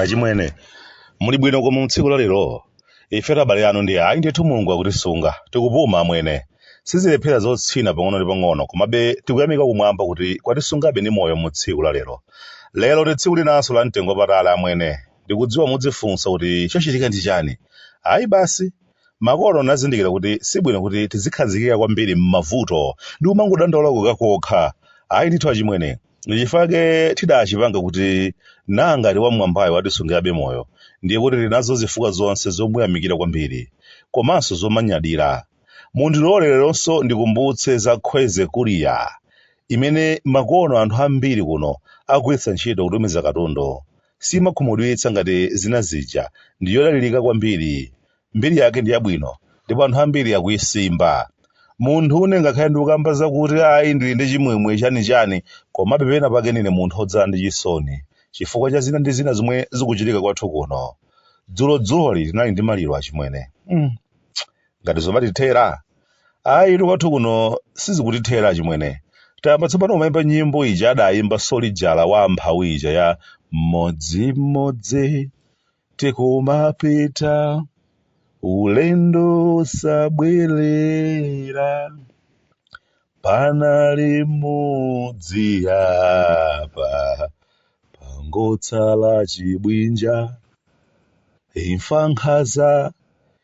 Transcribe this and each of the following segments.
achimwene muli bwino koma mutsiku la lero ife abale anu ndi ayi ndithu mulungu akutisunga tikupuma amwene sizilephera zotsina pang'ono ndi pang'ono komabe tikuyamika kumwamba kuti kwatisungabe ndi moyo mu tsiku la lero lero ndi tsiku linanso la mtengo wapatali amwene Ndikudziwa mudzifunsa kuti chochitika ndi chani. Ayi basi, makono ndinazindikira kuti sibwino kuti tizikhazikika kwambiri mmavuto ndi kumangodandaula kokakokha. Ayi ndithu achimwene, ndi chifukwa chake tidachipanga kuti ngati wam'mwambayo watisungirabe moyo ndiye kuti tili nazo zifukwa zonse zomuyamikira kwambiri komanso zomanyadira. Mundilole leronso ndikumbutse za Khweze Courier imene makono anthu ambiri kuno akugwiritsa ntchito kutumiza katundu. siimakhumudwitsa ngati zina zija, ndi yodalirika kwambiri. Mbiri yake ndi yabwino ndipo anthu ambiri akuisimba. Munthune ngakhale ndikukamba zakuti ayi ndili ndi chimwemwe chanichani, komabe penapake ndine munthu wodzala ndi chisoni chifukwa cha zina ndi zina zomwe zikuchitika kwathu kuno. Dzulodzuloli tinali ndi maliro achimwene. mm. ngati zomatithera ayitu kwathu kuno sizikutithera achimwene tayamba tsopano kumayimba nyimbo ija adayimba solijala wa mphawi ija ya mmodzimmodzi tikumapita ulendo wosabwerera panali mudzi apa pangotsala chibwinja imfa nkhaza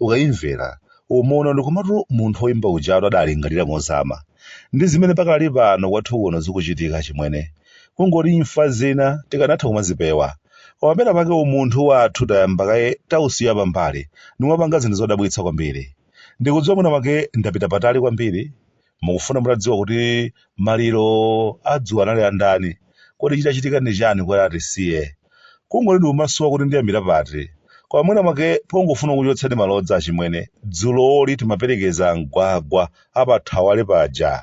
Ukaimvera, umaona kuti komatu munthu woimba ujatu adalingalira mozama. Ndi zimene pakali pano kwathu kuno zikuchitika achimwene. Kungoti imfa zina tikanatha kumazipewa. Koma pena pake umunthu wathu tayamba kaye tausiya pambali, nkumapanga zinthu zodabwitsa kwambiri. Ndikudziwa mwina mwake ndapita patali kwambiri, Mukufuna mutadziwa kuti maliro adzulo anali a ndani? Kodi chidachitika ndi chani kuti atisiye? Kungoti ndikumasowa kuti ndiyambire pati. Koma mwina mwake pongofuna kukuchotsani malodza achimwene, dzulooli timaperekeza amgwagwa apathawale paja.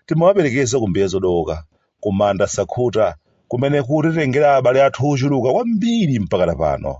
Timawaperekeza ku mbiya zodooka. ku manda sakhuta kumene kutitengera abale athu ochuluka kwambiri mpakana pano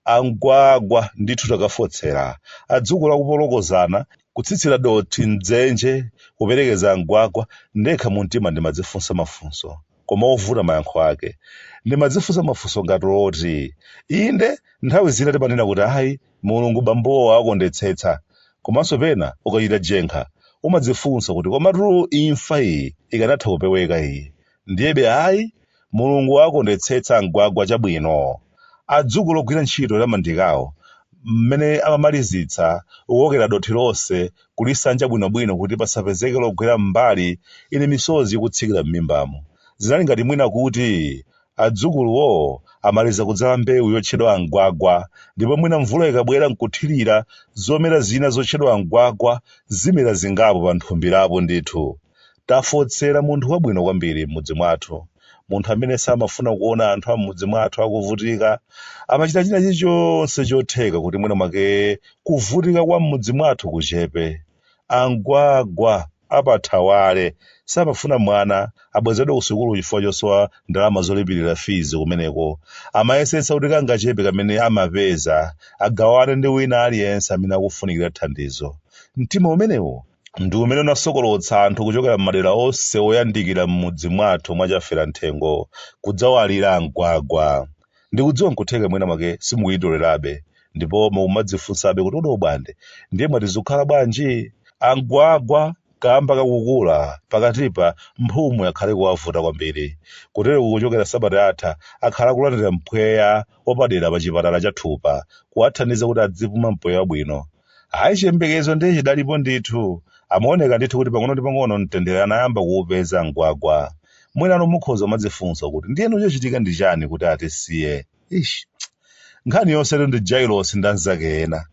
amgwagwa ndithu takafotsera adzukulu kupolokozana kutsitsira dothi mdzenje kuperekeza amgwagwa ndekha mu mtima ndimadzifunsa mafunso koma ovuta mayankho ake ndimadzifunsa mafunso ngati oti inde nthawi zina timanena kuti ayi Mulungu bambowo awakondetsetsa komanso pena ukachita jenkha umadzifunsa kuti komatu imfa iyi ikanatha kupeweka iyi ndiyebe ayi Mulungu awakondetsetsa a Mgwagwa chabwino adzukulu ogwira ntchito ya mandayi kawo mmene amamalizitsa kukokera dothi lonse kulisanja bwinobwino kuti pasapezeke logwera mmbali ine misozi ikutsikira mmimbamu zinali ngati mwina kuti Adzukuluwo amaliza kudzala mbewu yotchedwa a Mgwagwa ndipo mwina mvula ikabwera n'kuthirira, zomera zina zotchedwa a Mgwagwa zimera zingapo pa nthumbirapo. Ndithu tafotsera munthu wabwino kwambiri m'mudzi mwathu, munthu amene samafuna kuona anthu a m'mudzi mwathu akuvutika. Amachita china chilichonse chotheka kuti mwina mwake kuvutika kwa m'mudzi mwathu kuchepe. A Mgwagwa. apathawale samafuna mwana abwezedwe kusukulu chifukwa chosowa ndalama zolipirira fees kumeneko. Amayesetsa kuti kangachepe kamene amapeza agawane ndi wina aliyense amene akufunikira thandizo. Mtima umenewo ndi umene unasonkholotsa anthu kuchokera m'madera onse oyandikira m'mudzi mwathu mwa Chaferamthengo kudzawalira Mgwagwa. Ndikudziwa nkutheka mwina mwake simukuyitolerabe ndipo mukumadzifunsabe kuti kodi Obwande ndiye mwati zikukhala bwanji? A Mgwagwa kaamba ka kukula pakatipa mphumu yakhala ikuwavuta kwambiri. Kutereku kuchokera sabata yatha akhala akulandira mpweya wapadera pa chipatala cha Thupa kuwathandiza kuti adzipuma mpweya wabwino. Ayi chiyembekezo ndiye chidalipo ndithu. Amaoneka ndithu kuti pang'ono ndi pang'ono mtendere anayamba kuupeza Mgwagwa. Mwina inu mukhoza kumadzifunsa kuti ndiyeno chachitika ndi chani kuti atisiye? Eish. Nkhani yonsetu ndi Jailosi ndi anzake ena.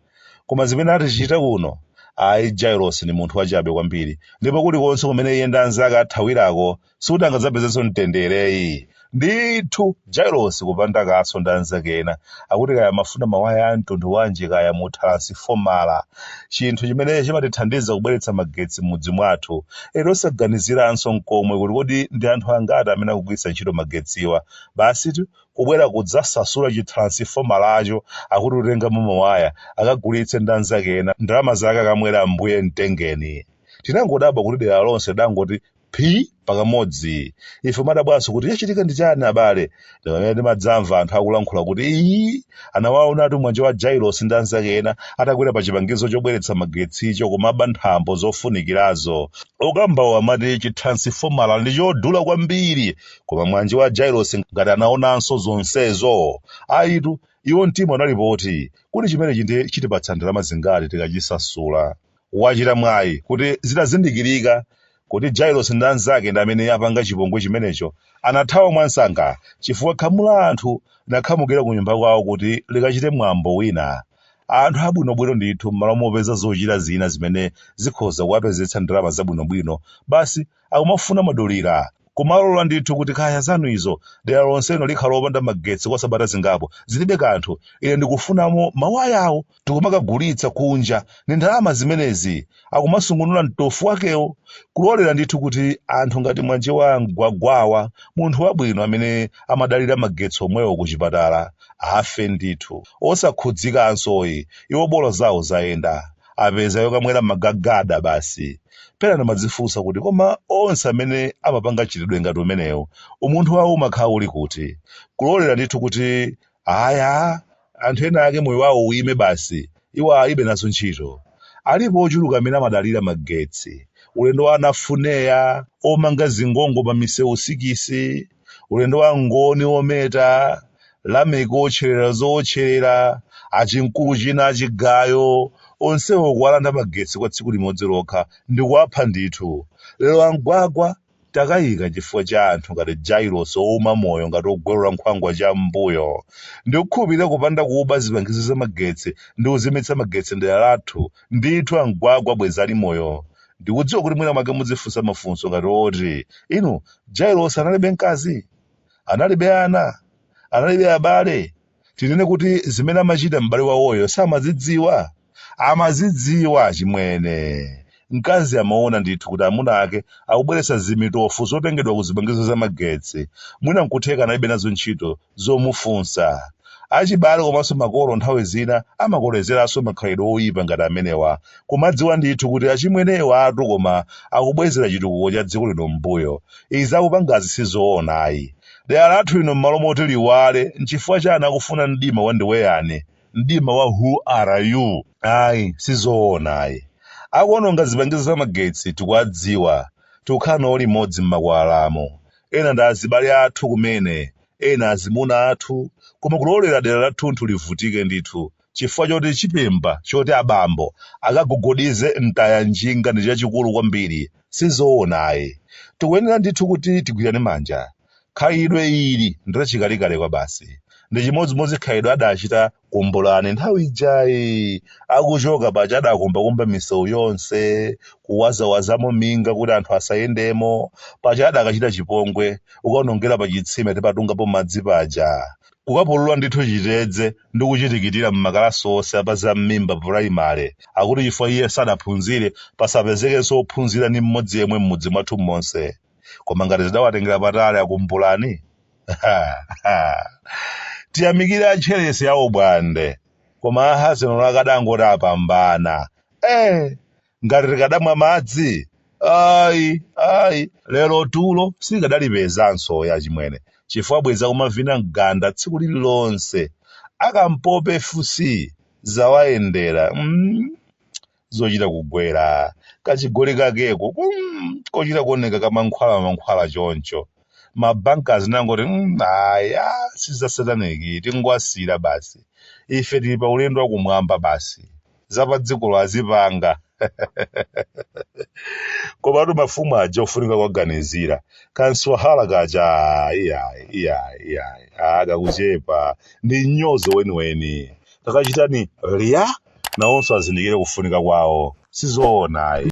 Koma zimene atichita kuno, ayi Jailosi ndi munthu wachabe kwambiri ndipo kulikonse kumene iye ndi anzake athawirako sikuti angadzapezenso mtendere ayi ndithu jailosi kupanda kaso ndi anzake ena akuti kaya amafuna mawaya a mtundu wanji kaya mu tharansifomala chinthu chimene chimatithandiza kubweretsa magetsi m'mudzi mwathu eti osaganiziranso nkomwe kuti kodi ndi anthu angati amene akugwiritsa ntchito magetsiwa basitu kubwera kudzasasula chitharansifomalacho akuti kutengamo mawaya akagulitse ndi anzake ena ndalama zake akamwere ambuye mtengeni tinangodabwa kuti dera lonse lidangoti phi pakamodzi ife kudabwanso kuti chachitika ndi chani abale ndipamene timadzamva anthu akulankhula kuti iyi anawaonatu mwanje wa jailos ndi anzake ena atakwera pa chipangizo chobweretsa magetsicho kumaba nthambo zofunikirazo okambawo amati chitharansifomala ndi chodula kwambiri koma mwanje wa jailos ngati anaonanso zonsezo ayitu iwo mtima unali poti kuti chimenechi ndiye chitipatsa ndalama zingati tikachisasula Wachita mwayi kuti zitazindikirika kuti Jailosi ndi anzake ndi amene apanga chipongwe chimenecho, anathawa mwansanga chifukwa khamu la anthu linakhamukira kunyumba kwawo kuti likachite mwambo wina. Anthu abwinobwino ndithu m'malo mopeza zochita zina zimene zikhoza kuwapezetsa ndalama zabwinobwino, basi akumafuna madulira. Kumalola ndithu kuti kaya zanu izo, dera lonseno likhala opanda magetsi kwa sabata zingapo, zilibe kanthu, ine ndikufunamo mawayawo, akuti akumakagulitsa kunja ndi ndalama zimenezi, akumasungunula mtovu wakewo. Kulolera ndithu kuti anthu ngati mwana wa a Mgwagwawa, munthu wabwino amene amadalira magetsi omwewo kuchipatala, afe ndithu, osakhudzikanso ayi, iwo bola zawo zayenda. apeza yokamwera magagada basi pena ndimadzifunsa kuti koma onse amene amapanga mchitidwe ngati umenewu umunthu wawo umakhala uli kuti kulolera ndithu kuti kaya anthu ena ake moyo wawo uyime basi iwo alibe nazo ntchito alipo ochuluka amene amadalira magetsi ulendo wa a Nafuneya omanga zingongo pa misewu sikisi ulendo wa Mngoni wometa, Lameki wotcherera zowotcherera, achimkulu china, chigayo, onsewo kuwalanda magetsi kwa tsiku limodzi lokha ndi kuwapha ndithu. Lero a Mgwagwa atayika chifukwa cha anthu ngati Jailosi ouma moyo ngati ogwalula nkhwangwa cham'mbuyo. Ndikukhulupirira kupanda kuba zipangizo za magetsi ndi kuzimitsa magetsi m'dera lathu, ndithu a Mgwagwa bwenzi ali moyo. ndikudziwa kuti mwina mwake mudzifunsa mafunso ngati oti inu Jailosi analibe mkazi analibe ana analibe abale tinene kuti zimene amachita m'bale wawoyo samazidziwa amazidziwa chimwene mkazi amaona ndithu kuti amuna ake akubweretsa zimitovu zotengedwa ku zipangizo za magetsi mwina nkutheka analibe nazo ntchito zomufunsa achibale komanso makolo nthawi zina amakolezeranso makhalidwe oyipa ngati amenewa kumadziwa ndithu kuti achimwenewatu koma akubwezera chitukuko cha dziko lino m'mbuyo. Izi akupangazi si zoona ayi. Dera lathu lino m'malo moti liwale, n'chifukwa chani akufuna mdima wandiweyani, mdima wa who are you? Ayi, si zoona ayi. Akuononga zipangizo za magetsi tikuwadziwa, tikukhala nawo limodzi m'makwalalamu. Ena ndi azibale athu kumene, ena azimuna athu, koma kulolera dera lathunthu livutike ndithu, chifukwa choti chibemba choti abambo akagogodize mtaya njinga ndi chachikulu kwambiri sizoona ayi tikuyenera ndithu kuti tigwirane manja khalidwe ili ndi lachikalekale kwa basi ndi chimodzimodzi khalidwe adachita Kumbulani nthawi ija akuchoka paja adakumbakumba misewu yonse kuwazawazamo minga kuti anthu asayendemo paja adakachita chipongwe kukaonongera pa chitsime timatungapo madzi paja Kukapulula ndithu chitedze ndi kuchitikitira m'makalasi onse a pa Zam'mimba pulayimale, akuti chifukwa iye sanaphunzire pasapezekenso wophunzira ndi mmodzi yemwe m'mudzi mwathu monse. Koma nanga zidawatengera patali a Kumbulani? Ha! Ha! Tiyamikire a Ntcheresi awo bwanawe! Koma a Hazenolo akadangoti apambana! Ee! ngati tikadamwa madzi iyayi lero tulo sitikadalipezanso ya chimwene chifukwa bwezi akumavina mganda tsiku lililonse a Kampope FC zawayendera mm, zochita kugwira kachigoli kakeko kum, kochita kuoneka kamankhwala mankhwala choncho ma Bankers zinangoti mm, ayi si za Sataniki tingwasira basi ife tili pa ulendo wakumwamba basi zapadziko lawo azipanga komatu mafumu aja ofunika kuwaganizira kamswahala kaja ah, iyayi iyayi iyayi ah, kakuchepa, ndi mnyozo weniweni takachitani kuti nawonso azindikire kufunika kwawo si zoona ayi